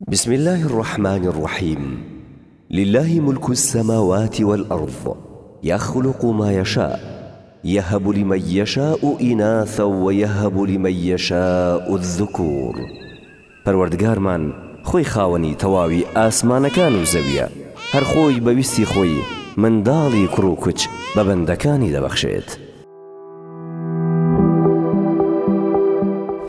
بسم اللە الرحمن الرحیم للە ملک السماوات والارض یخلق ما یشاء یهب لمن یشاء اناثا و یهب لمن یشاء الذکور پەروەردگارمان خۆی خاوەنی تەواوی ئاسمانەکان و زەویە هەر خۆی بە ویستی خۆی منداڵی کوڕ و کچ بە بەندەکانی دەبەخشێت.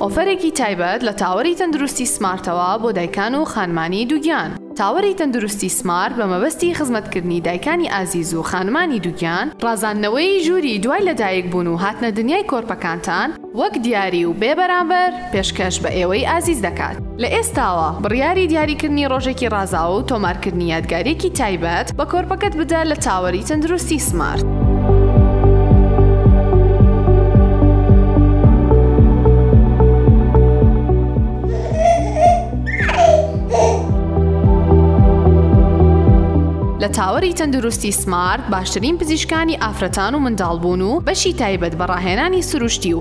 ئۆفەرێکی تایبەت لە تاوەری تەندروستی سمارتەوە بۆ دایکان و خانمانی دووگیان تاوەری تەندروستی سمارت بە مەبەستی خزمەتکردنی دایکانی ئازیز و خانمانی دووگیان ڕازاندنەوەی ژووری دوای لەدایک بوون و هاتنە دنیای کۆرپەکانتان وەک دیاری و بێ بەرامبەر پێشکەش بە ئێوەی ئازیز دەکات. لە ئێستاوە بڕیاری دیاریکردنی ڕۆژێکی ڕازاوە و تۆمارکردنی یادگارییەکی تایبەت بە کۆرپەکەت بدە لە تاوەری تەندروستی سمارت. لە تاوەری تەندروستی سمارت باشترین پزیشکانی ئافرەتان و منداڵبوون و بەشی تایبەت بە ڕاهێنانی سروشتی و